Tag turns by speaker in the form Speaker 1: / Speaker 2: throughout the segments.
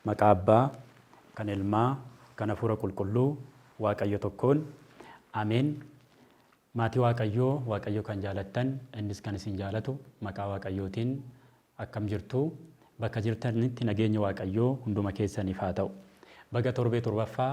Speaker 1: Maqaa Abbaa, kan Ilmaa, kan Hafuura Qulqulluu, Waaqayyo tokkoon. Ameen. Maatii Waaqayyoo, Waaqayyo kan jaalattan, Innis kan isin jaalatu, maqaa Waaqayyootiin akkam jirtu? Bakka jirtanitti nageenyi Waaqayyoo hunduma keessaniif haa ta'u. Baga torbee torbaffaa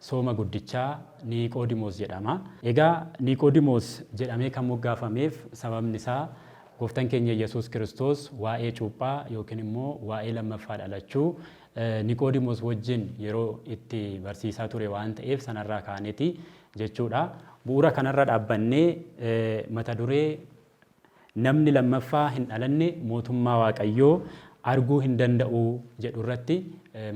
Speaker 1: Sooma Guddichaa Niiqoodimoos jedhama. Egaa Niiqoodimoos jedhamee kan moggaafameef sababni isaa Gooftan keenya Yesuus Kiristoos waa'ee cuuphaa yookiin immoo waa'ee lammaffaa dhalachuu Niiqoodimoos wajjin yeroo itti barsiisaa ture waan ta'eef sanarraa kaaneti jechuudha. Bu'uura kanarra dhaabbannee mata duree Namni lammaffaa hin dhalanne mootummaa Waaqayyoo arguu hin danda'u jedhu irratti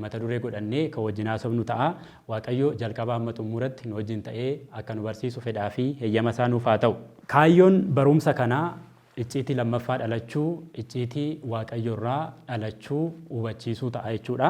Speaker 1: mata duree godhannee kan wajjin haasofnu ta'a. Waaqayyo jalqabaa hamma xumuratti nu wajjin ta'ee akka nu barsiisu fedhaa fi heyyama isaa nuuf haa ta'u. Kaayyoon barumsa kanaa icciitii lammaffaa dhalachuu, icciitii Waaqayyo irraa dhalachuu hubachiisuu ta'a jechuu dha.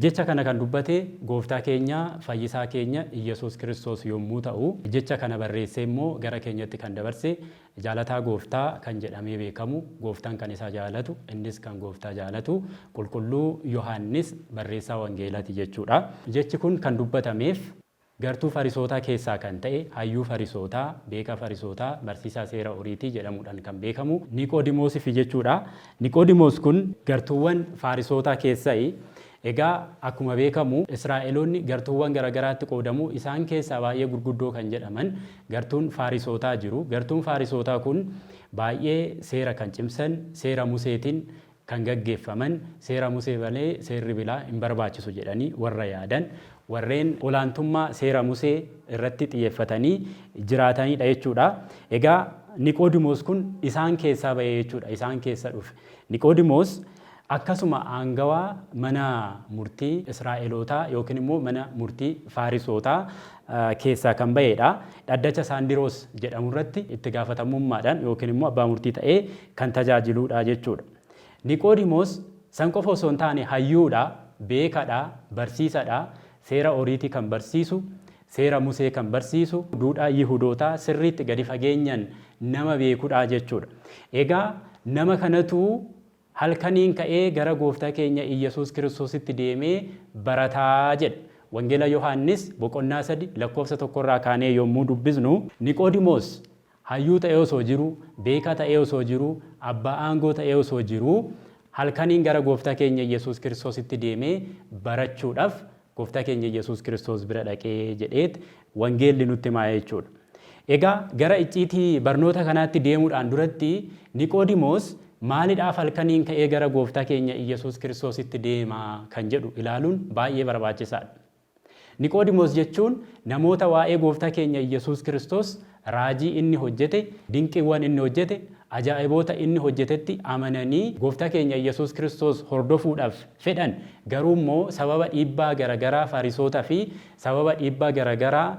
Speaker 1: Jecha kana kan dubbate gooftaa keenya fayyisaa keenya Iyyasuus Kiristoos yommuu ta'u, jecha kana barreessee immoo gara keenyatti kan dabarse Jaalataa Gooftaa kan jedhamee beekamu Gooftaan kan isa jaalatu, innis kan Gooftaa jaalatu Qulqulluu Yohaannis barreessaa Wangeelaati jechuudha. Jechi kun kan dubbatameef gartuu Farisootaa keessaa kan ta'e hayyuu Farisootaa, beekaa Farisootaa, barsiisaa seera Oriitii jedhamuudhaan kan beekamu Niqoodimoosifi jechuudha. Niqoodimoos kun gartuuwwan Faarisootaa keessayi. Egaa akkuma beekamu Israa'eloonni gartuuwwan garagaraatti qoodamu. Isaan keessaa baay'ee gurguddoo kan jedhaman gartuun Faarisootaa jiru. Gartuun Faarisootaa kun baay'ee seera kan cimsan, seera Museetiin kan gaggeeffaman, seera Musee malee seerri bilaa hin barbaachisu jedhanii warra yaadan, warreen olaantummaa seera Musee irratti xiyyeeffatanii jiraataniidha jechuudha. Egaa Niqoodimoos kun isaan keessaa ba'e jechuudha. Isaan keessa dhufe. Niqoodimoos Akkasuma aangawaa mana murtii Israa'elootaa yookiin immoo mana murtii Faarisootaa keessaa kan ba'ee dha. Dhaddacha Saandiroos jedhamu irratti itti gaafatamummaadhaan yookiin immoo abbaa murtii ta'ee kan tajaajiluu dha jechuu dha. Niqoodimoos san qofa osoo hin taane hayyuu dha, beeka dha, barsiisa dha, seera Oriitii kan barsiisu, seera Musee kan barsiisu, duudhaa Yihudootaa sirriitti gadi fageenyaan nama beeku dha jechuu dha. Egaa nama kanatu Halkaniin ka'ee gara Gooftaa keenya Iyyasuus Kiristoositti deemee barataa jedha. Wangeela Yohaannis boqonnaa 3 lakkoofsa 1 irraa kaanee yommuu dubbisnu. Niqoodimoos hayyuu ta'ee osoo jiruu, beekaa ta'ee osoo jiruu, abbaa aangoo ta'ee osoo jiruu, halkaniin gara Gooftaa keenya Iyyasuus Kiristoositti deemee barachuudhaaf Gooftaa keenya Yesuus Kiristoos bira dhaqe jedheet wangeelli nutti himaa jechuudha. Egaa gara icciitii barnoota kanaatti deemuudhaan duratti Niqoodimoos maalidhaaf halkaniin ka'ee gara Gooftaa keenya Iyyasuus Kiristoositti deema kan jedhu ilaaluun baay'ee barbaachisaadha. Niqoodimoos jechuun namoota waa'ee Gooftaa keenya Iyyasuus Kiristoos raajii inni hojjete, dinqiiwwan inni hojjete, ajaa'iboota inni hojjetetti amananii Gooftaa keenya Iyyasuus Kiristoos hordofuudhaaf fedhan, garuu immoo sababa dhiibbaa gara garaa Farisoota fi sababa dhiibbaa gara garaa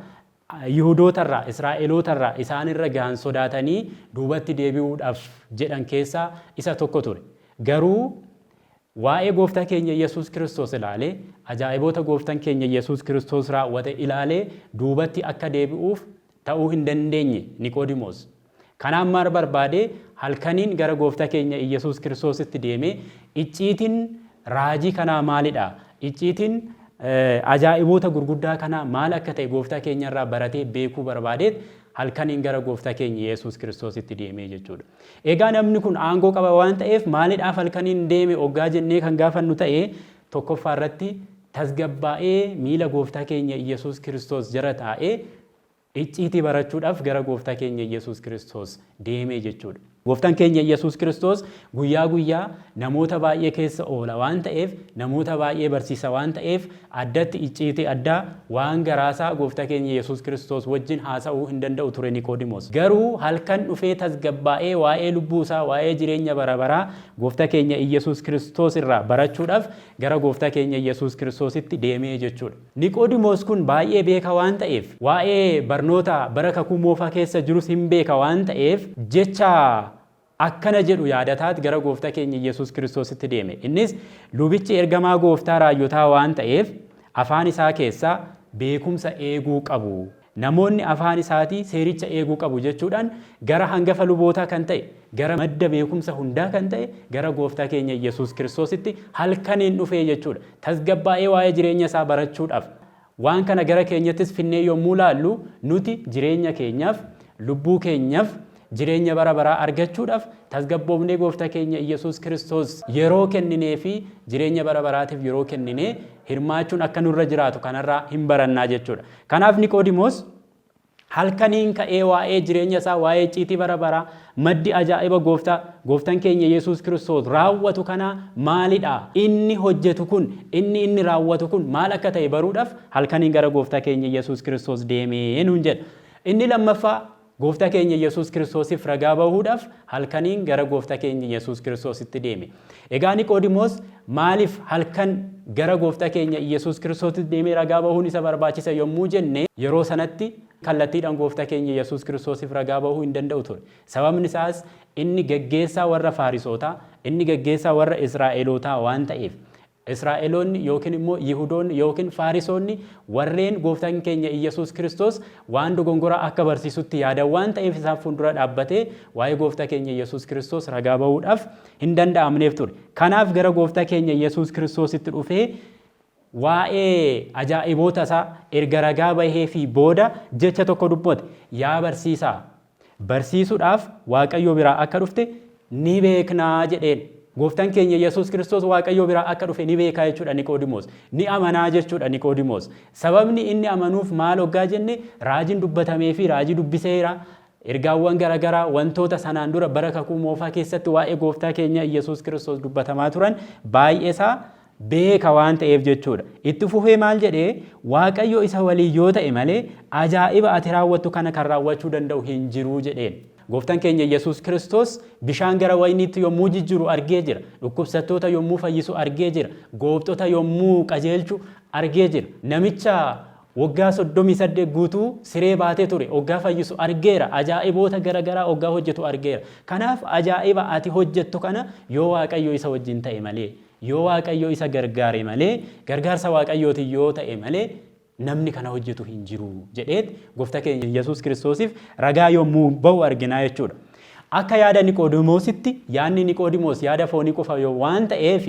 Speaker 1: Yihudoota irraa, Israa'eloota irraa isaan irra gahan sodaatanii duubatti deebi'uudhaaf jedhan keessaa isa tokko ture. Garuu Waa'ee Gooftaa keenya Yesuus Kiristoos ilaalee, ajaa'iboota Gooftan keenya Yesuus Kiristoos raawwate ilaalee duubatti akka deebi'uuf ta'uu hin dandeenye Niqoodimoos. Kanaaf maal barbaade? Halkaniin gara Gooftaa keenya Iyyasuus Kiristoositti deemee, Icciitiin raajii kanaa maali dha? Icciitiin ajaa'iboota gurguddaa kanaa maal akka ta'e Gooftaa keenya irraa baratee beekuu barbaadeet halkaniin gara Gooftaa keenya Yesuus Kiristoositti deemee jechuu dha. Egaa namni kun aangoo qaba waan ta'eef maalidhaaf halkaniin deeme oggaa jennee kan gaafannu ta'e, tokkoffaa irratti tasgabbaa'ee miila Gooftaa keenya Iyyasuus Kiristoos jara taa'ee icciitii barachuudhaaf gara Gooftaa keenya Iyyasuus Kiristoos deeme jechuudha. Gooftaan keenya Iyyasuus Kiristoos guyyaa guyyaa namoota baay'ee keessa oola waan ta'eef, namoota baay'ee barsiisa waan ta'eef, Addatti icciitii addaa, waan garaasaa Gooftaa keenya Yesuus Kiristoos wajjin haasa'uu hin danda'u ture Niqoodimoos. Garuu halkan dhufee tasgabbaa'ee waa'ee lubbuusaa, waa'ee jireenya bara baraa Gooftaa keenya Iyyasuus Kiristoos irraa barachuudhaaf gara Gooftaa keenya Iyyasuus Kiristoositti deemee jechuudha. Niqoodimoos kun baay'ee beekaa waan ta'eef, waa'ee barnoota bara Kakuu Moofaa keessa jirus hin beeka waan ta'eef jecha akkana jedhu yaadataat gara Goofta keenya Yesus Kristositti deeme. Innis lubichi ergamaa Gooftaa raajjotaa waan ta'eef afaan isaa keessaa beekumsa eeguu qabu. Namoonni afaan isaatii seericha eeguu qabu jechuudhaan gara hangafa lubootaa kan ta'e, gara madda beekumsa hundaa kan ta'e gara Gooftaa keenya Yesus Kristositti halkaniin dhufee jechuudha. Tasgabbaa'ee waa'ee jireenya isaa barachuudhaaf Waan kana gara keenyattis finnee yommuu laallu, nuti jireenya keenyaaf, lubbuu keenyaf, jireenya bara baraa argachuudhaf tasgabboofnee Goofta keenya Iyyasuus Kiristoos yeroo kenninee fi jireenya bara baraatiif yeroo kennine hirmaachuun akka nurra jiraatu kanarraa hin barannaa jechuudha. Kanaaf Niqoodimoos Halkaniin ka'ee waa'ee jireenya isaa, waa'ee icciitii bara baraa, maddi ajaa'iba Gooftaa, Gooftan keenya Yesuus Kiristoos raawwatu kanaa maali dha? Inni hojjetu kun, inni inni raawwatu kun maal akka ta'e baruudhaaf halkaniin gara Gooftaa keenya Yesuus Kiristoos deeme nuun jedha. Inni lammaffaa Gooftaa keenya Yesuus Kiristoosiif ragaa bahuudhaaf halkaniin gara Gooftaa keenya Yesuus Kiristoositti deeme. Egaa Niqoodimoos maaliif halkan gara Gooftaa keenya Iyyesuus Kiristoositti deemee ragaa bahuun isa barbaachisa yommuu jenne, yeroo sanatti kallattiidhaan Gooftaa keenya Iyyesuus Kiristoosiif ragaa bahuu hin danda'u ture. Sababni isaas inni gaggeessaa warra Faarisootaa, inni gaggeessaa warra Israa'elootaa waan ta'eef. Israa'eloonni yookiin immoo Yihudoonni yookiin Faarisoonni warreen Gooftaan keenya Iyyasuus Kiristoos waan dogongoraa akka barsiisutti yaadan waan ta'eef isaan fuuldura dhaabbatee waa'ee Gooftaa keenya Iyyasuus Kiristoos ragaa ba'uudhaaf hin danda'amneef ture. Kanaaf gara Gooftaa keenya Iyyasuus Kiristoositti dhufee waa'ee ajaa'iboota isaa erga ragaa baheefii booda jecha tokko dubbate, Yaa barsiisaa! barsiisuudhaaf Waaqayyoo biraa akka dhufte ni beekna jedheen. Gooftan keenya Yesuus Kiristoos Waaqayyoo biraa akka dhufe ni beekaa jechuudha Niqoodimoos. Ni amanaa jechuudha Niqoodimoos. Sababni inni amanuuf maal oggaa jenne raajiin dubbatamee fi raajii dubbiseera. Ergaawwan garagaraa wantoota sanaan dura bara kakuu moofaa keessatti waa'ee gooftaa keenya Yesuus Kiristoos dubbatamaa turan baay'eesaa beeka waan ta'eef jechuu dha. Itti fufee maal jedhe? Waaqayyo isa waliin yoo ta'e malee ajaa'iba ati raawwattu kana kan raawwachuu danda'u hin jiru jedheen. Gooftan keenya Yesuus Kiristoos bishaan gara wayniitti yommuu jijjiru argee jira. Dhukkubsattoota yommuu fayyisu argee jira. Goobxota yommuu qajeelchu argee jira. Namicha waggaa 38 guutuu siree baatee ture oggaa fayyisu argeera. Ajaa'iboota gara garaa oggaa hojjetu argeera. Kanaaf ajaa'iba ati hojjettu kana yoo Waaqayyo isa wajjin ta'e malee Yoo Waaqayyo isa gargaare malee, gargaarsa Waaqayyootiin yoo ta'e malee, namni kana hojjetu hin jiru jedheet Gooftaa keenya Yesuus Kiristoosiif ragaa yommuu ba'u arginaa jechuu dha. Akka yaada Niqoodimoositti yaadni Niqoodimoos yaada foonii qofa waan ta'eef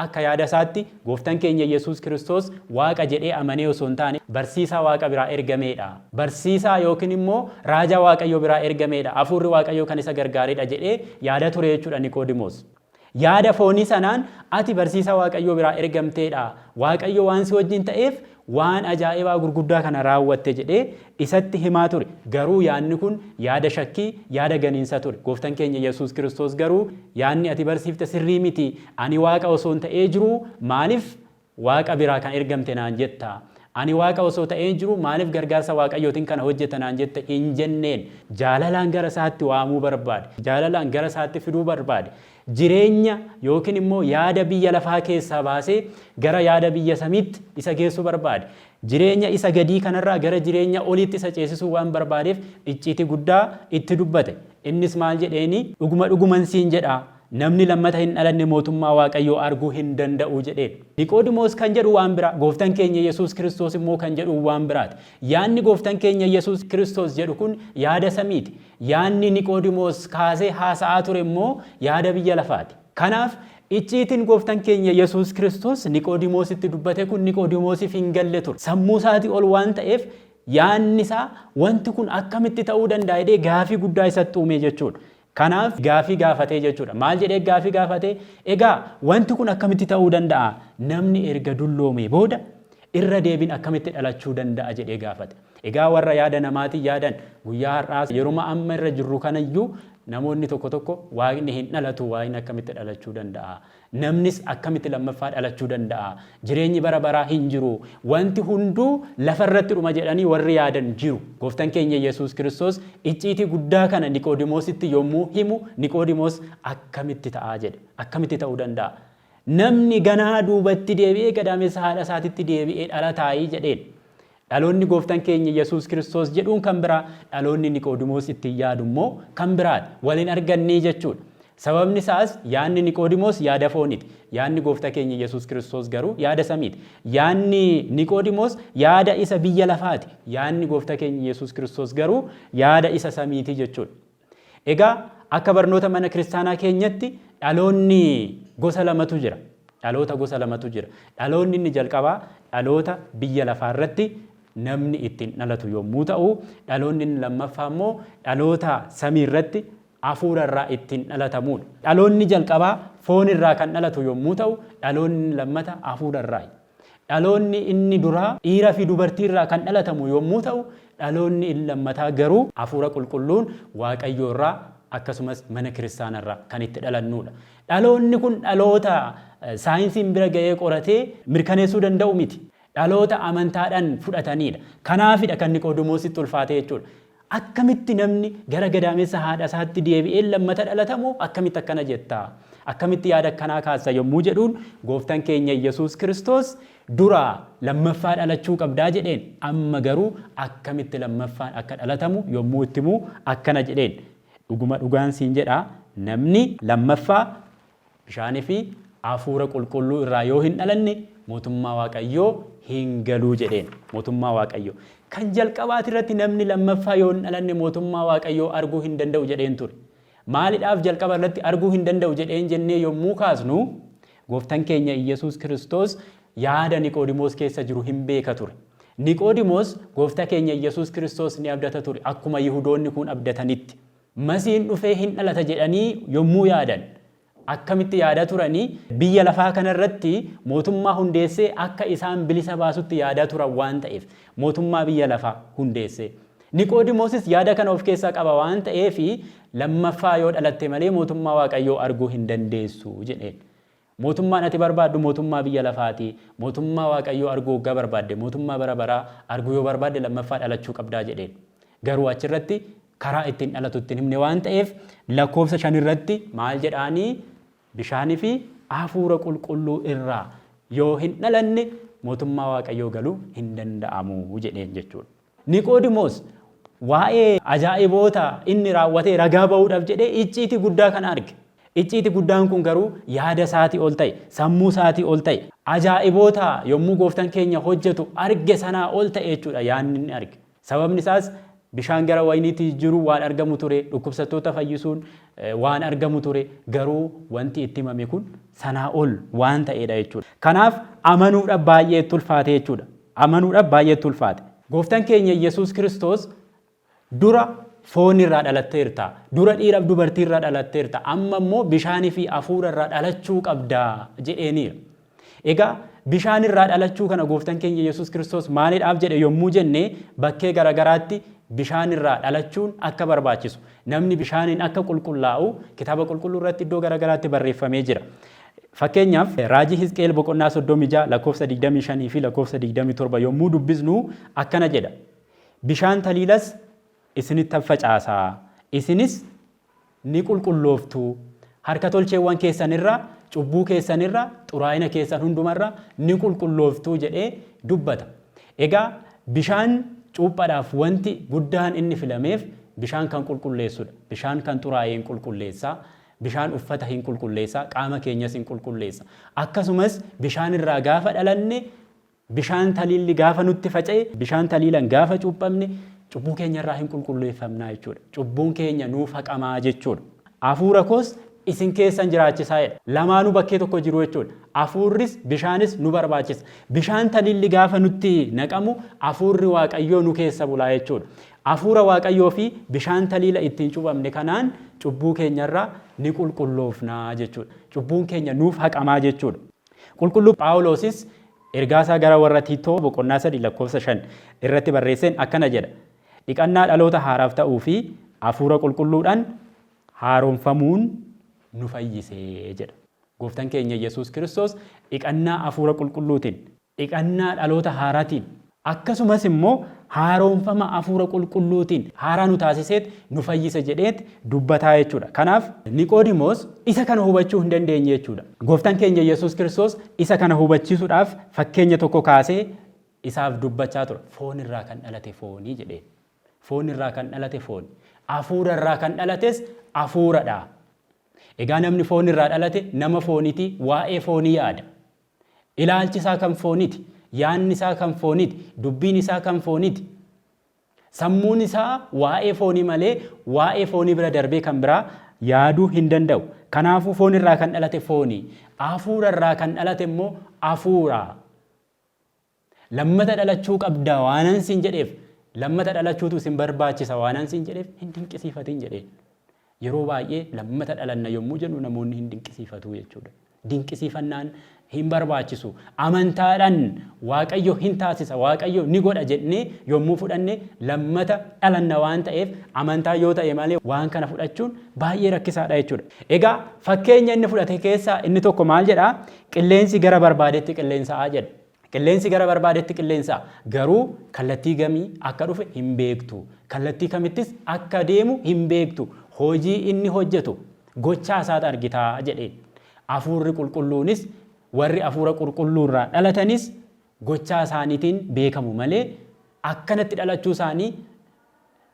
Speaker 1: akka yaada isaatti Gooftaan keenya Yesuus Kiristoos Waaqa jedhee amanee osoo hin taane barsiisaa Waaqa biraa ergamee dha, barsiisaa ykn immoo raajaa Waaqayyoo biraa ergamee dha, Hafuurri Waaqayyoo kan isa gargaaree dha jedhee yaada ture jechuu dha Niqoodimoos. Yaada foonii sanaan, Ati barsiisaa Waaqayyoo biraa ergamtee dha, Waaqayyo waan si wajjin ta'eef waan ajaa'ibaa gurguddaa kana raawwatte jedhee isatti himaa ture. Garuu yaadni kun yaada shakkii, yaada ganiinsa ture. Gooftan keenya Yesuus Kiristoos garuu, Yaadni ati barsiifte sirrii miti, ani Waaqa osoon ta'ee jiruu maaliif Waaqa biraa kan ergamte naan jetta. Ani Waaqa osoo ta'een jiruu maaliif gargaarsa Waaqayyootiin kana hojjetta naan jetta hin jenneen. Jaalalaan gara isaatti waamuu barbaade. Jaalalaan gara isaatti fiduu barbaade. Jireenya ykn immoo yaada biyya lafaa keessaa baasee gara yaada biyya samiitti isa geessuu barbaade. Jireenya isa gadii kanarraa gara jireenya oliitti isa ceesisuu waan barbaadeef icciitii guddaa itti dubbate. Innis maal jedheeni? Dhuguma dhuguman siin jedha, Namni lammata hin dhalanne mootummaa Waaqayyoo arguu hin danda'u jedheedha. Niqoodimoos kan jedhu waan biraa, Gooftan keenya Yesuus Kiristoos immoo kan jedhu waan biraati. Yaadni Gooftan keenya Yesuus Kiristoos jedhu kun yaada samiiti. Yaadni Niqoodimoos kaasee haasa'aa ture immoo yaada biyya lafaati. Kanaaf, icciitiin Gooftan keenya Yesuus Kiristoos Niqoodimoositti dubbate kun Niqoodimoosiif hin galle ture. Sammuu isaatii ol waan ta'eef yaadni isaa wanti kun akkamitti ta'uu danda'a jedhee gaaffii guddaa isatti uume jechuudha. Kanaaf gaaffii gaafatee jechuudha. Maal jedhee gaaffii gaafate? Egaa wanti kun akkamitti ta'uu danda'a? Namni erga dulloomee booda irra deebiin akkamitti dhalachuu danda'a jedhee gaafate. Egaa warra yaada namaatiin yaadan guyyaa har'aas yeruma amma irra jirru kanayyuu namoonni tokko tokko waaqni hin dhalatu waaqni akkamitti dhalachuu danda'a? Namnis akkamitti lammaffaa dhalachuu danda'a? Jireenyi bara baraa hin jiru. Wanti hunduu lafa irratti dhuma jedhanii warri yaadan jiru. Gooftan keenya Yesuus Kiristoos icciitii guddaa kana Niqoodimoositti yommuu himu Niqoodimoos akkamitti ta'a jedhe. Akkamitti ta'uu danda'a? Namni ganaa duubatti deebi'ee gadaamessa haadha isaatitti deebi'ee dhalataayii jedheen. Dhaloonni Gooftan keenya Yesuus Kiristoos jedhuun kan biraa, dhaloonni Niqoodimoos ittiin yaadu immoo kan biraadha. Wal hin argannee jechuudha. Sababni isaas yaadni Niqoodimoos yaada fooniti. Yaadni Goofta keenya Yesuus Kiristoos garuu yaada samiiti. Yaadni Niqoodimoos yaada isa biyya lafaati. Yaadni Goofta keenya Yesuus Kiristoos garuu yaada isa samiiti jechuudha. Egaa akka barnoota mana kiristaanaa keenyatti dhaloonni gosa lamatu jira. Dhaloota gosa lamatu jira. Dhaloonni inni jalqabaa dhaloota biyya lafaa irratti namni ittiin dhalatu yommuu ta'u, dhaloonni inni lammaffaa immoo dhaloota samii irratti hafuura irraa ittiin dhalatamuudha. Dhaloonni jalqabaa foon irraa kan dhalatu yommuu ta'u, dhaloonni inni lammata hafuura irraayi. Dhaloonni inni duraa dhiira fi dubartii irraa kan dhalatamu yommuu ta'u, dhaloonni inni lammataa garuu Hafuura Qulqulluun Waaqayyoo irraa akkasumas mana kiristaana irraa kan itti dhalannuu dha. Dhaloonni kun dhaloota saayinsiin bira ga'ee qoratee mirkaneessuu danda'u miti. Dhaloota amantaadhaan fudhatanii dha. Kanaafi dha kan Niqoodimoositti ulfaate jechuudha. Akkamitti namni gara gadaamessa haadha isaatti deebi'ee lammata dhalata moo akkamitti akkana jetta? Akkamitti yaada akkanaa kaasta? yommuu jedhuun Gooftan keenya Iyyasuus Kiristoos duraa lammaffaa dhalachuu qabdaa jedheen. Amma garuu akkamitti lammaffaan akka dhalatamu yommuu itti himu akkana jedheen, Dhuguma dhugaan siin jedha, namni lammaffaa bishaanii fi Hafuura Qulqulluu irraa yoo hin dhalanne mootummaa Waaqayyoo hin galuu jedheen. Mootummaa Waaqayyoo. Kan jalqabaati irratti namni lammaffaa yoo hin dhalanne mootummaa Waaqayyoo arguu hin danda'u jedheen ture. Maalidhaaf jalqaba irratti arguu hin danda'u jedheen jennee yommuu kaasnu gooftan keenya Iyyasuus Kiristoos yaada Niqoodimoos keessa jiru hin beeka ture. Niqoodimoos goofta keenya Iyyasuus Kiristoos ni abdata ture akkuma Yihudoonni kun abdatanitti. Masiin dhufee hin dhalata jedhanii yommuu yaadan akkamitti yaadaa turani? Biyya lafaa kana irratti mootummaa hundeessee akka isaan bilisa baasutti yaadaa turan waan ta'eef, mootummaa biyya lafaa hundeessee. Niqoodimoosis yaada kana of keessaa qaba waan ta'eef, Lammaffaa yoo dhalatte malee mootummaa Waaqayyoo arguu hin dandeessu jedheen. Mootummaan ati barbaaddu mootummaa biyya lafaati. Mootummaa Waaqayyoo arguu oggaa barbaadde, mootummaa bara baraa arguu yoo barbaadde lammaffaa dhalachuu qabdaa jedheen. Garuu achirratti karaa ittiin dhalatu itti hin himne waan ta'eef lakkoofsa shan irratti maal jedhaanii bishaanii fi hafuura qulqulluu irraa yoo hin dhalanne mootummaa Waaqayyoo galuu hin danda'amu jedheen jechuudha. Niqoodimoos waa'ee ajaa'iboota inni raawwatee ragaa ba'uudhaaf jedhee icciitii guddaa kana arge. Icciitii guddaan kun garuu yaada isaatii ol ta'e, sammuu isaatii ol ta'e. Ajaa'iboota yommuu Gooftan keenya hojjetu arge sanaa ol ta'e jechuudha yaadni inni arge. Sababni isaas bishaan gara wayiniitti jijjiiruun waan argamu ture, dhukkubsattoota fayyisuun waan argamu ture, garuu wanti itti himame kun sanaa ol waan ta'eedha jechuudha. Kanaaf amanuudhaaf baay'ee itti ulfaate jechuudha. amanuudhaaf baay'ee itti ulfaate. Gooftan keenya Iyyesuus Kiristoos dura foon irraa dhalatteerta, dura dhiira fi dubartii irraa dhalatteerta, amma immoo bishaanii fi hafuura irraa dhalachuu qabda jedheeniira. Egaa bishaan irraa dhalachuu kana gooftan keenya Iyyesuus Kiristoos maalidhaaf jedhe yommuu jenne bakkee garagaraatti bishaan irraa dhalachuun akka barbaachisu, namni bishaaniin akka qulqullaa'u kitaaba qulqulluu irratti iddoo garagaraatti barreeffamee jira. Fakkeenyaaf, raajii Hisqi'el boqonnaa 36 lakkoofsa 25 fi lakkoofsa 27 yommuu dubbisnu akkana jedha, Bishaan taliilas isinittan facaasa, isinis ni qulqullooftu, harka tolcheewwan keessan irraa, cubbuu keessan irraa, xuraa'ina keessan hunduma irraa ni qulqullooftu jedhee dubbata. Egaa bishaan cuuphaadhaaf wanti guddaan inni filameef bishaan kan qulqulleessudha. Bishaan kan xuraa'e in qulqulleessa. Bishaan uffata hin qulqulleessa, qaama keenyas hin qulqulleessa. Akkasumas bishaan irraa gaafa dhalanne, bishaan taliilli gaafa nutti faca'e, bishaan taliilan gaafa cuuphamne cubbuu keenya irraa hin qulqulleeffamnaa jechuudha. Cubbuun keenya nuuf haqamaa jechuudha. Hafuura koos isin keessan jiraachisaa jedha. Lamaanuu bakkee tokko jiru jechuudha. Hafuurris bishaanis nu barbaachisa. Bishaan taliilli gaafa nutti naqamu hafuurri Waaqayyoo nu keessa bulaa jechuudha. Hafuura Waaqayyoo fi bishaan taliila ittiin cuuphamne kanaan cubbuu keenyarraa ni qulqulloofna jechuudha. Cubbuun keenya nuuf haqamaa jechuudha. Qulqulluu Phaawuloosis ergaasaa gara warra Tiitoo boqonnaa 3 lakkoofsa 5 irratti barreesseen akkana jedha, Dhiqannaa dhaloota haaraaf ta'uu fi Hafuura Qulqulluudhaan haaromfamuun nu fayyise jedha. Gooftan keenya Yesuus Kiristoos dhiqannaa Hafuura Qulqulluutiin dhiqannaa dhaloota haaratiin, akkasumas immoo haaroomfama Hafuura Qulqulluutiin haaraa nu taasiseet nu fayyise jedheet dubbataa jechuu dha. Kanaaf Niqoodimoos isa kana hubachuu hin dandeenye jechuu dha. Gooftaan keenya Yesuus Kiristoos isa kana hubachiisuudhaaf fakkeenya tokko kaasee isaaf dubbachaa ture. Foon irraa kan dhalate fooni jedheen. Foon irraa kan dhalate fooni. Hafuura irraa kan dhalates Hafuura dha. Egaa namni foon irraa dhalate nama fooniti, waa'ee foonii yaada. Ilaalchi isaa kan fooniti. Yaanni isaa kan fooniti. Dubbiin isaa kan fooniti. Sammuun isaa waa'ee foonii malee waa'ee foonii bira darbee kan biraa yaaduu hin danda'u. Kanaafuu foon irraa kan dhalate fooni. Hafuura irraa kan dhalate immoo hafuura. Lammata dhalachuu qabda waanan siin jedheef, lammata dhalachuutu isin barbaachisa waanan siin jedheef hin dinqisiifatin jedheen. Yeroo baay'ee lammata dhalanna yommuu jennu namoonni hin dinqisiifatu jechuudha. Dinqisiifannaan hin barbaachisu. Amantaadhaan Waaqayyo hin taasisa, Waaqayyo ni godha jennee yommuu fudhanne lammata dhalanna waan ta'eef amantaa yoo ta'e malee waan kana fudhachuun baay'ee rakkisaadha jechuudha. Egaa fakkeenya inni fudhate keessaa inni tokko maal jedha? Qilleensi gara barbaadetti qilleensa'a jedha. Qilleensi gara barbaadetti qilleensa. Garuu kallattii gamii akka dhufe hin beektu. Kallattii kamittis akka deemu hin beektu. Hojii inni hojjetu gochaa isaat argita jedheen. Afuurri qulqulluunis warri afuura qurqulluu irraa dhalatanis gochaa isaaniitiin beekamu malee akkanatti dhalachuu isaanii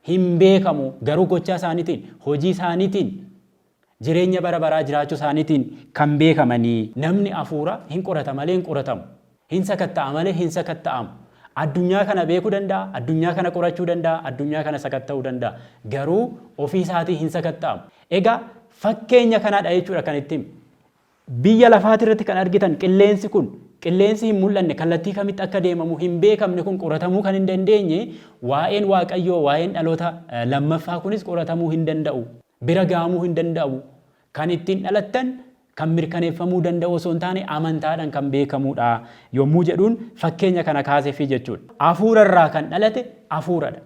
Speaker 1: hin beekamu garuu gochaa isaaniitiin hojii isaaniitiin Jireenya bara baraa jiraachuu isaaniitiin kan beekamanii. Namni afuura hin qorata malee hin qoratamu. Hin sakatta'a malee hin sakatta'amu. Addunyaa kana beekuu danda'a, addunyaa kana qorachuu danda'a, addunyaa kana sakatta'uu danda'a. Garuu ofii isaatii hin sakatta'amu. Egaa fakkeenya kanaa dha jechuudha kan itti hime. Biyya lafaati irratti kan argitan qilleensi kun, qilleensi hin mul'anne, kallattii kamitti akka deemamu hin beekamne kun qoratamuu kan hin dandeenye, waa'een Waaqayyoo, waa'een dhaloota lammaffaa kunis qoratamuu hin danda'u. bira ga'amuu hin danda'u. Kan ittiin dhalattan kan mirkaneeffamuu danda'u osoo hin taane amantaadhan kan beekamuudha yommuu jedhuun fakkeenya kana kaasefii jechuudha. Afuura irraa kan dhalate afuuradha.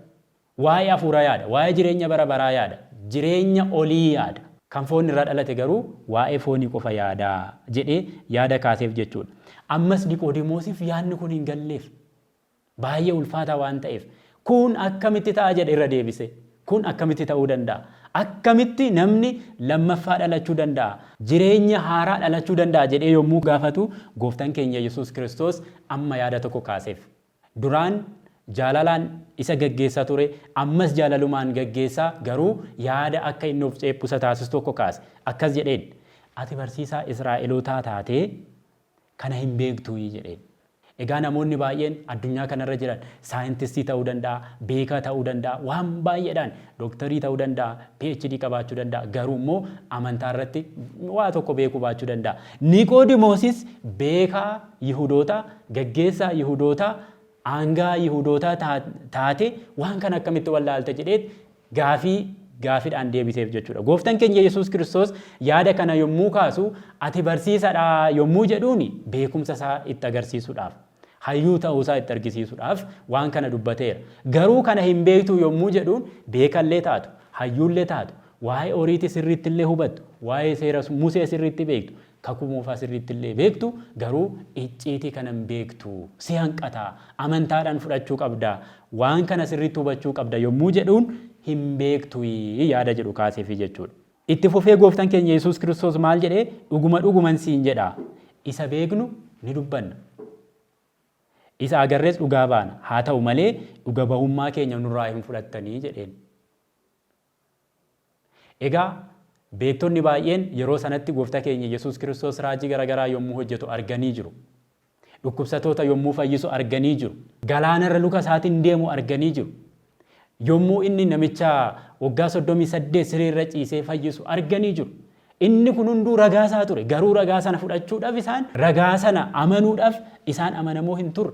Speaker 1: Waa'ee afuura yaada. Waa'ee jireenya bara baraa yaada. Jireenya olii yaada. Kan foon irraa dhalate garuu waa'ee foonii qofa yaada jedhee yaada kaaseef jechuudha. Ammas Niqoodimoosif yaadni kun hin galleef. Baay'ee ulfaataa waan ta'eef. Kun akkamitti ta'a jedhe irra deebisee. Kun akkamitti ta'uu danda'a? Akkamitti namni lammaffaa dhalachuu danda'a? Jireenya haaraa dhalachuu danda'a jedhee yommuu gaafatu Gooftaan keenya Yesuus Kiristoos amma yaada tokko kaaseef. Duraan jaalalaan isa gaggeessaa ture, ammas jaalalumaan gaggeessa, garuu yaada akka inni of ceephu isa taasisu tokko kaase. Akkas jedheen, Ati barsiisaa Israa'elootaa taatee Kana hin beektuuyii? jedheen. Egaa namoonni baay'een addunyaa kana irra jiran saayintistii ta'uu danda'a, beekaa ta'uu danda'a, waan baay'eedhaan, doktorii ta'uu danda'a, PhD qabaachuu danda'a, garuu immoo amantaa irratti waa tokko beekuu baachuu danda'a. Niqoodimoosis beekaa Yihudootaa, gaggeessaa Yihudootaa, aanga'aa Yihudootaa taatee waan kana akkamitti wallaalte jedheet gaafii gaafidhaan deebiseef jechuu dha. Gooftan keenya Yesuus Kiristoos yaada kana yommuu kaasu ati barsiisa dha yommuu jedhuun beekumsa isaa itti agarsiisudhaaf, hayyuu ta'uu isaa itti argisiisudhaaf waan kana dubbateera. Garuu kana hin beektuu yommuu jedhuun beeka illee taatu, hayyuu illee taatu, waa'ee Oriiti sirriitti illee hubattu, waa'ee seera Musee sirriitti beektu, Kakuu Moofaa sirriitti illee beektu, garuu icciitii kana hin beektu. Si hanqata. Amantaadhaan fudhachuu qabda. Waan kana sirriitti hubachuu qabda yommuu jedhuun, hin beektuyi yaada jedhu kaaseefii jechuu dha. Itti fufee Gooftan keenya Yesuus Kiristoos maal jedhee? Dhuguma dhuguman siin jedha, isa beeknu ni dubbanna. Isa agarrees dhugaa baana. Haa ta'u malee, dhuga-bahummaa keenya nurraa hin fudhattani jedheen. Egaa, beektonni baay'een yeroo sanatti Gooftaa keenya Yesuus Kiristoos raajii garagaraa yommuu hojjetu arganii jiru. Dhukkubsatoota yommuu fayyisu arganii jiru. Galaana irra luka isaatiin deemu arganii jiru. Yommuu inni namicha waggaa 38 siree irra ciisee fayyisu arganii jiru. Inni kun hunduu ragaa isaa ture. Garuu ragaa sana fudhachuudhaaf isaan, ragaa sana amanuudhaaf isaan amanamoo hin turre.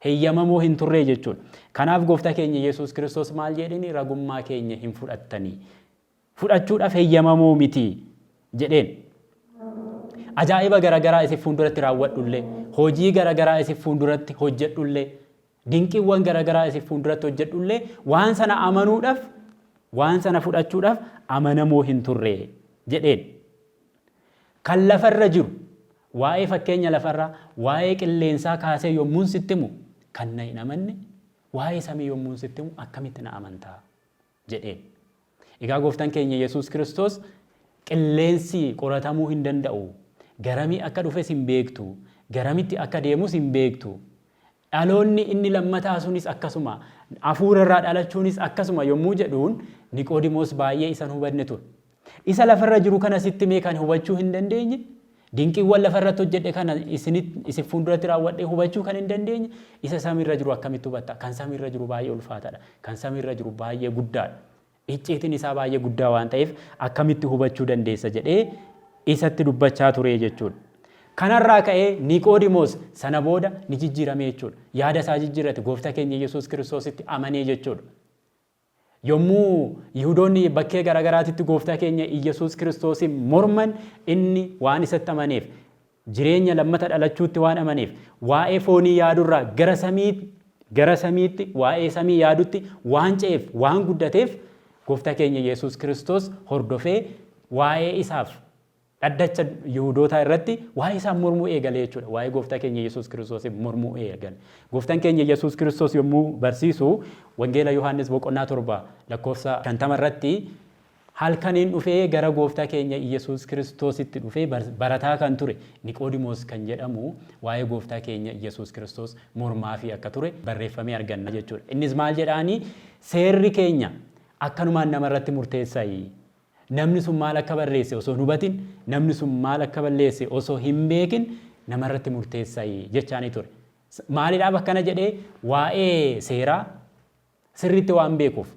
Speaker 1: heyyamamoo hin turree jechuudha. Kanaaf Gooftaa keenya Yesuus Kiristoos maal jeedheni ragummaa keenya hin fudhattanii. Fudhachuudhaf heyyamamoo miti jedheen. Ajaa'iba garagaraa isin fuunduratti raawwadhullee, hojii garagaraa isin fuunduratti hojjedhullee, dinqiwwan garagaraa isin fuunduratti hojjedhullee waan sana amanuudhaf, waan sana fudhachuudhaf amanamoo hin turree jedheen. Kan lafa irra jiru, waa'ee fakkeenya lafa irraa, waa'ee qilleensaa kaasee yommuun sitti himu kan na hin amanne, waa'ee samii yommuun sitti himu akkamitti na amantaa? jedheen. Egaa Gooftan keenya Yesuus Kiristoos qilleensi qoratamuu hin danda'u, garamii akka dhufes hin beektu, garamitti akka deemus hin beektu, Dhaloonni inni lammataa sunis akkasuma, hafuura irraa dhalachuunis akkasuma yommuu jedhuun Niqoodimoos baay'ee isa hin hubanne ture. Isa lafa irra jiru kana sitti himee kan hubachuu hin dandeenye, dinqiiwwan lafa irratti hojjedhe kana isin fuulduratti raawwadhee hubachuu kan hin dandeenye, isa samii irra jiru akkamitti hubatta? Kan samii irra jiru baay'ee ulfaataadha. Kan samii irra jiru baay'ee guddaadha. Icciitiin isaa baay'ee guddaa waan ta'eef akkamitti hubachuu dandeessa jedhee isatti dubbachaa ture jechuudha. Kanarraa ka'ee Niqoodimoos sana booda ni jijjiirame jechuudha. Yaada isaa jijjiirrate gooftaa keenya Yesuus Kiristoositti amanee jechuudha. Yommuu Yihudoonni bakkee garaagaraatitti gooftaa keenya Yesuus Kiristoosiin morman inni waan isatti amaneef Jireenya lammata dhalachuutti waan amaneef, waa'ee foonii yaadurraa gara samii, gara samiitti, waa'ee samii yaadutti waan ce'eef, waan guddateef, Gooftaa keenya Yesus Kristos hordofee waa'ee isaaf dhaddacha Yihudootaa irratti waa'ee isaan mormuu eegale jechuudha. Waa'ee Gooftaa keenya Yesus Kristosiin mormuu eegale. Gooftaan keenya Yesus Kristos yommuu barsiisu, Wangeela Yohaannis boqonnaa 7 lakkoofsa 50 irratti, Halkaniin dhufee gara Gooftaa keenya Iyyasuus Kiristoositti dhufee barataa kan ture Niqoodimoos kan jedhamu waa'ee Gooftaa keenya Iyyasuus Kiristoos mormaafii akka ture barreeffamee arganna jechuudha. Innis maal jedhaanii seerri keenya akkanumaan nama irratti murteessayi. Namni sun maal akka barreesse osoo hin hubatin, namni sun maal akka balleesse osoo hin beekin nama irratti murteessayi jechaanii ture. Maalidhaaf akkana jedhee waa'ee seeraa sirriitti waan beekuuf.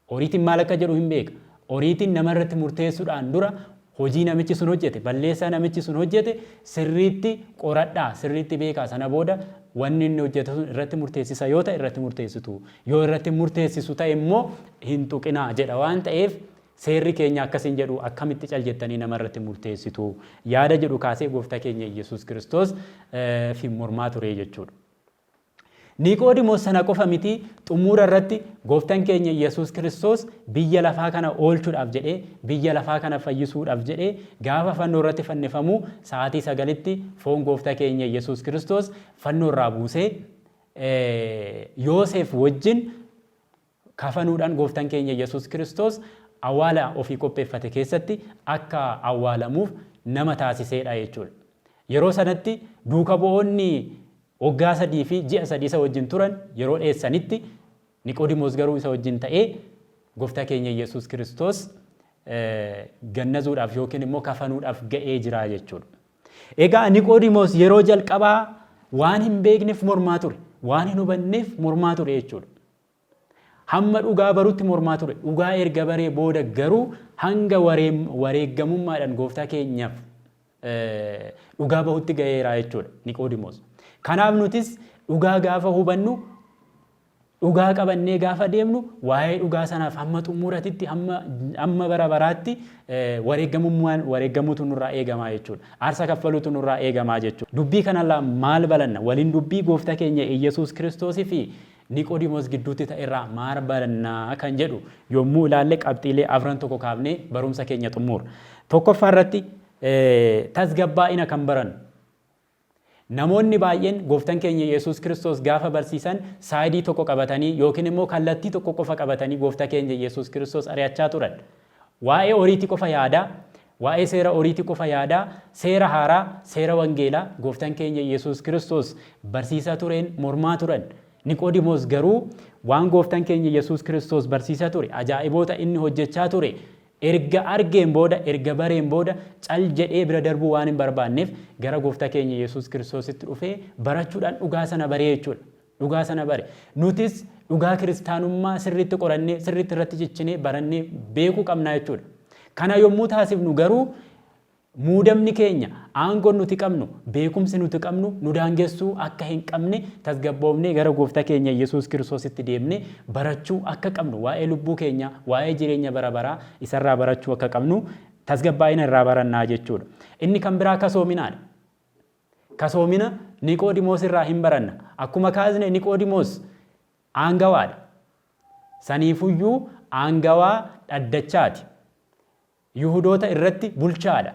Speaker 1: Oriitiin maal akka jedhu hin beeka. Oriitiin nama irratti murteessuudhaan dura hojii namichi sun hojjete, balleessaa namichi sun hojjete sirriitti qoradhaa, sirriitti beekaa sana booda wanni inni hojjete sun irratti murteessisa yoo ta'e irratti murteessitu, yoo irratti hin murteessisu ta'e immoo hin tuqinaa jedha waan ta'eef seerri keenya akkas hin jedhu akkamitti cal jettanii nama irratti murteessitu yaada jedhu kaasee gooftaa keenya Iyyasuus Kiristoos fi mormaa ture jechuudha. Niqoodimoos sana qofa miti, xummuura irratti Gooftan keenya Yesuus Kiristoos biyya lafaa kana oolchudhaaf jedhee, biyya lafaa kana fayyisuudhaaf jedhee gaafa fannoo irratti fannifamuu sa'aatii 9tti foon Goofta keenya Yesuus Kiristoos fannoo irraa buusee Yooseef wajjin Kafanuudhaan Gooftan keenya Yesuus Kiristoos awaala ofii qopheeffate keessatti akka awwaalamuuf nama taasiseedha jechuudha. Yeroo sanatti duuka bu'oonni waggaa sadii fi ji'a sadii isa wajjin turan yeroo dheessanitti Niqoodimoos garuu isa wajjin ta'ee Gooftaa keenya Yesuus Kiristoos gannazuudhaaf yookiin immoo kafanuudhaaf ga'ee jira jechuudha. Egaa Niqoodimoos yeroo jalqabaa waan hin beekneef mormaa ture. Waan hin hubanneef mormaa ture jechuudha. Hamma dhugaa barutti mormaa ture. Dhugaa erga baree booda garuu hanga wareeggamummaadhaan gooftaa keenyaaf dhugaa bahutti ga'eera jechuudha Niqoodimoos. Kanaaf nutis dhugaa gaafa hubannu dhugaa qabannee gaafa deemnu waa'ee dhugaa sanaaf hamma xumuratitti hamma bara baraatti wareeggamummaan wareeggamuutu nurraa eegamaa jechuudha. Aarsa kaffaluutu nurraa eegamaa jechuudha. Dubbii kanarraa maal balanna? Waliin dubbii gooftaa keenya Iyyasuus Kiristoosii fi Niqoodimoos gidduutti ta'e irraa maal baranna kan jedhu yommuu ilaalle qabxiilee afran tokko kaafnee barumsa keenya xummuurra. Tokkoffaa irratti tasgabbaa'ina kan barannu. Namoonni baay'een gooftan keenya Yesuus Kiristoos gaafa barsiisan saayidii tokko qabatanii yookiin immoo kallattii tokko qofa qabatanii goofta keenya Yesuus Kiristoos ari'achaa turan. Waa'ee horiiti qofa yaadaa, waa'ee seera horiiti qofa yaadaa, seera haaraa, seera wangeelaa gooftan keenya Yesuus Kiristoos barsiisaa tureen mormaa turan. Niqoodimoos garuu waan gooftan keenya Yesuus Kiristoos barsiisaa ture, ajaa'iboota inni hojjechaa ture erga argeen booda, erga bareen booda cal jedhee bira darbuu waan hin barbaanneef gara goofta keenya Yesuus Kiristoositti dhufee barachuudhaan dhugaa sana baree jechuudha. Dhugaa sana bare. Nutis dhugaa kiristaanummaa sirriitti qorannee, sirriitti irratti cichinee, barannee beekuu qabna jechuudha. Kana yommuu taasifnu garuu muudamni keenya, aangoon nuti qabnu, beekumsi nuti qabnu nu daangessuu akka hin qabne tasgabboofnee gara Gooftaa keenya Yesuus Kiristoositti deemnee barachuu akka qabnu, waa'ee lubbuu keenyaa, waa'ee jireenya bara baraa isarraa barachuu akka qabnu tasgabbaa'ina irraa baranna jechuudha. Inni kan biraa kasoominaadha. Kasoomina Niqoodimoos irraa hin baranna. Akkuma kaasne Niqoodimoos aangawaa dha. Saniifuyyuu aangawaa dhaddachaa ti. Yihudoota irratti bulchaa dha.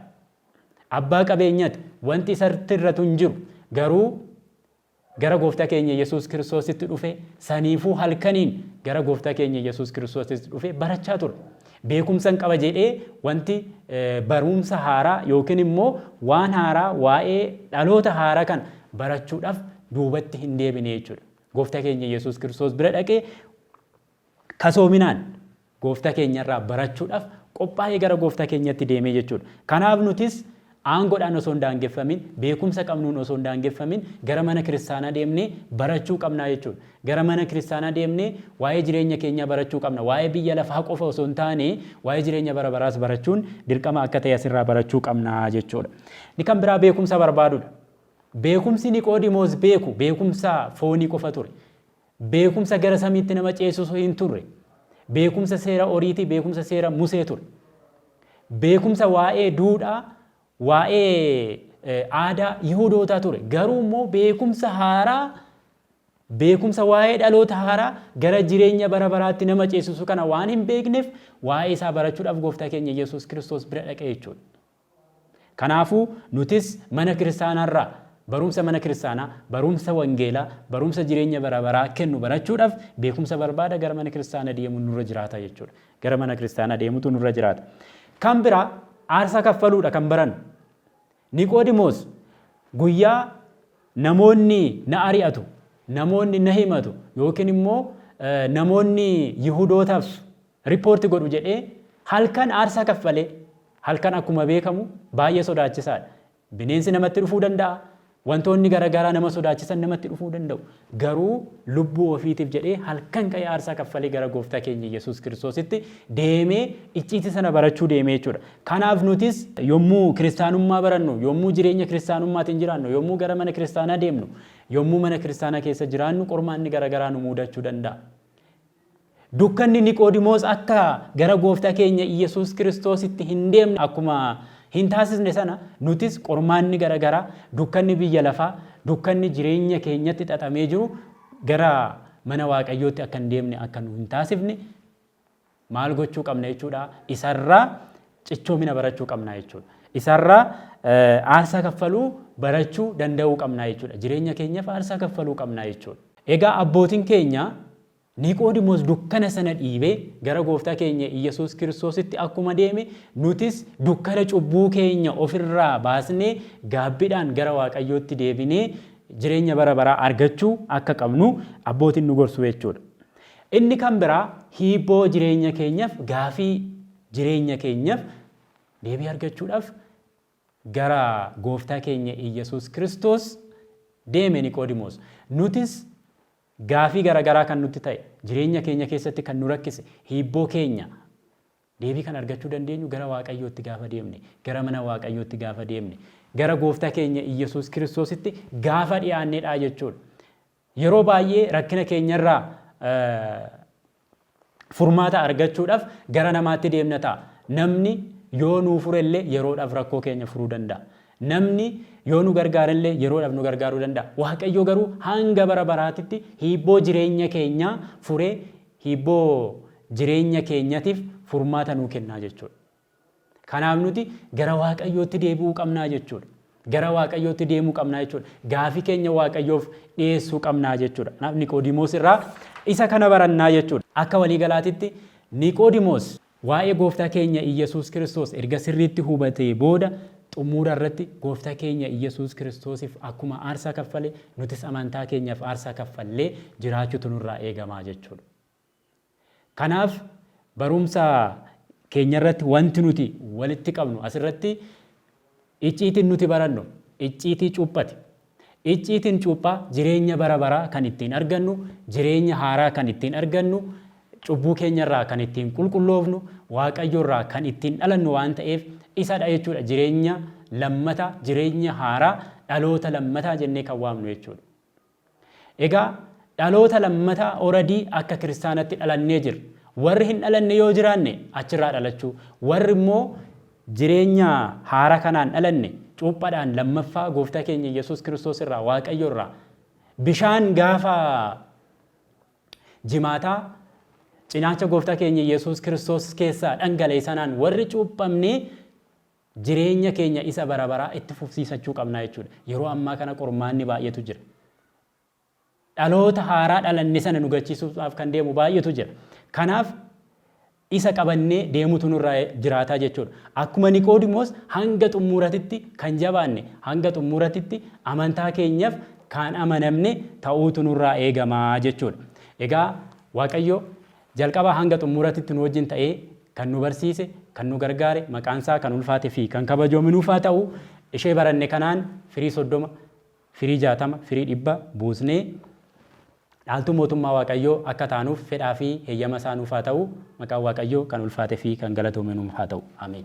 Speaker 1: Abbaa qabeenyati. Wanti isartti irratu hin jiru. Garuu Gara Gooftaa keenya Yesuus Kiristoositti dhufe, saniifuu halkaniin gara Gooftaa keenya Yesuus Kiristoositti dhufe barachaa ture. Beekumsan qaba jedhee wanti baruumsa haaraa yookiin immoo waan haaraa waa'ee dhaloota haaraa kana barachuudhaf duubatti hin deebine jechuudha. Gooftaa keenya Yesuus Kiristoos bira dhaqee Kasoominaan Goofta keenya irraa barachuudhaf qophaa'ee gara Goofta keenyatti deemee jechuudha. Kanaaf nutis aangodhaan osoo hin daangeffamin, beekumsa qabnuun osoo hin daangeffamin gara mana kiristaanaa deemnee barachuu qabnaa jechuudha. Gara mana kiristaanaa deemnee waa'ee jireenya keenyaa barachuu qabna. Waa'ee biyya lafaa qofa osoo hin taane waa'ee jireenya bara baraas barachuun dirqama akka ta'e asirraa barachuu qabna jechuudha. Inni kan biraa beekumsa barbaadudha. Beekumsi Niqoodimoos beeku beekumsa foonii qofa ture. Beekumsa gara samiitti nama ceesisu hin turre. Beekumsa seera Oriitii, beekumsa seera Musee ture. Beekumsa waa'ee duudhaa, waa'ee aadaa Yihudootaa ture. Garuu immoo beekumsa haaraa, beekumsa waa'ee dhaloota haaraa gara jireenya bara baraatti nama ceesisu kana waan hin beekneef waa'ee isaa barachuudhaaf gooftaa keenya Yesuus Kiristoos bira dhaqe jechuudha. Kanaafuu, nutis mana kiristaanaa irraa barumsa mana kiristaanaa, barumsa wangeelaa, barumsa jireenya bara baraa kennu barachuudhaaf beekumsa barbaada gara mana kiristaana deemuun nurra jiraata jechuudha. Gara mana kiristaanaa deemutu nurra jiraata. Kan biraa aarsaa kaffaluudha kan barannu. Niqoodimoos guyyaa namoonni na ari'atu, namoonni na himatu yookiin immoo namoonni Yihudoota absu, Report godhu jedhee halkan aarsaa kaffalee. Halkan akkuma beekamu baay'ee sodaachisaadha. Bineensi namatti dhufuu danda'a. Wantoonni garagaraa nama sodaachisan namatti dhufuu danda'u. Garuu lubbuu ofiitiif jedhee halkan ka'ee aarsaa kaffalee gara gooftaa keenya Yesuus Kiristoositti deemee icciitii sana barachuu deemee jechuudha. Kanaaf nutis yommuu kiristaanummaa barannu, yommuu jireenya kiristaanummaatiin jiraannu, yommuu gara mana kiristaanaa deemnu, yommuu mana kiristaanaa keessa jiraannu qormaanni garagaraa nu muudachuu danda'a. Dukkanni Niqoodimoos akka gara Gooftaa keenya Iyyasuus Kiristoositti hin deemne akkuma hin taasisne sana, nutis qormaanni gara garaa, dukkanni biyya lafaa, dukkanni jireenya keenyatti xaxamee jiru gara mana Waaqayyootti akka hin deemne akka nu hin taasifne maal gochuu qabna jechuudha? Isarraa cichoomina barachuu qabna jechuudha. Isarraa aarsaa kaffaluu barachuu danda'uu qabna jechuudha. Jireenya keenyaaf aarsaa kaffaluu qabna jechuudha. Egaa abbootiin keenya Niqoodimoos dukkana sana dhiibee gara Gooftaa keenya Iyyasuus Kiristoositti akkuma deeme, nutis dukkana cubbuu keenya of irraa baasnee gaabbidhaan gara Waaqayyootti deebinee jireenya bara baraa argachuu akka qabnu abbootiin nu gorsu jechuu dha. Inni kan biraa hiibboo jireenya keenyaf, gaafii jireenya keenyaf deebii argachuudhaf gara Gooftaa keenya Iyyasuus Kiristoos deeme Niqoodimoos. Nutis Gaafii garagaraa kan nutti ta'e, jireenya keenya keessatti kan nu rakkise, hiibboo keenya, deebii kan argachuu dandeenyu gara Waaqayyootti gaafa deemne, gara mana Waaqayyootti gaafa deemne, gara Goofta keenya Iyyasuus Kiristoositti gaafa dhiyaannedha jechuudha. Yeroo baay'ee rakkina keenya irraa furmaata argachuudhaaf gara namaatti deemna ta'a. Namni yoo nuu fure illee yeroodhaaf rakkoo keenya furuu danda'a. Namni yoo nu gargaare illee yeroodhaaf nu gargaaruu danda'a. Waaqayyo garuu hanga bara baraatitti hiibboo jireenya keenyaa furee hiibboo jireenya keenyatiif furmaata nuu kennaa jechuudha. Kanaaf nuti gara Waaqayyootti deebi'uu qabnaa jechuudha. Gara Waaqayyootti deemuu qabnaa jechuudha. Gaafii keenya Waaqayyoof dhiyeessuu qabnaa jechuudha. Kanaaf Niqoodimoos irraa isa kana barannaa jechuudha. Akka waliigalaatitti Niqoodimoos waa'ee gooftaa keenya Iyyasuus Kiristoos erga sirriitti hubatee booda xumuura irratti gooftaa keenya Iyyasuus Kiristoosiif akkuma aarsaa kaffale nutis amantaa keenyaaf aarsaa kaffallee jiraachuutu nurraa eegamaa jechuudha. Kanaaf barumsa keenya irratti wanti nuti walitti qabnu asirratti icciitiin nuti barannu icciitii cuuphati. Icciitiin cuuphaa jireenya bara baraa kan ittiin argannu, jireenya haaraa kan ittiin argannu, cubbuu keenya irraa kan ittiin qulqulloofnu, Waaqayyo irraa kan ittiin dhalannu waan ta'eef isadha jechuudha. Jireenya lammataa, jireenya haaraa, dhaloota lammataa jennee kan waamnu jechuudha. Egaa dhaloota lammataa already akka kiristaanatti dhalannee jirra. Warri hin dhalanne yoo jiraanne achirraa dhalachuu, warri immoo jireenya haara kanaan dhalanne cuuphadhaan lammaffaa gooftaa keenya Iyyasuus Kiristoos irraa, Waaqayyo irraa, bishaan gaafa jimaataa cinaacha gooftaa keenya Iyyasuus Kiristoos keessaa dhangala'e sanaan warri cuuphamne jireenya keenya isa bara baraa itti fufsiisachuu qabna jechuudha. Yeroo ammaa kana qormaanni baay'eetu jira. Dhaloota haaraa dhalanne sana nu gachiisuudhaaf kan deemu baay'eetu jira. Kanaaf isa qabannee deemutu nurra jiraataa jechuudha. Akkuma Niqoodimoos hanga xummuuratitti kan jabaanne, hanga xummuuratitti amantaa keenyaf kaan amanamne ta'uutu nurraa eegamaa jechuudha. Egaa Waaqayyo Jalqabaa hanga xummuuratitti nu wajjin ta'ee kan nu barsiise, kan nu gargaare, maqaan isaa kan ulfaate fi kan kabajoomi nuuf haa ta'u, ishee baranne kanaan firii 30, firii 60, firii 100 buusnee dhaaltuu mootummaa Waaqayyoo akka taanuuf fedhaa fi heyyama isaa nuuf haa ta'u, maqaan Waaqayyoo kan ulfaate fi kan galatoome nuuf haa ta'u. Ameen.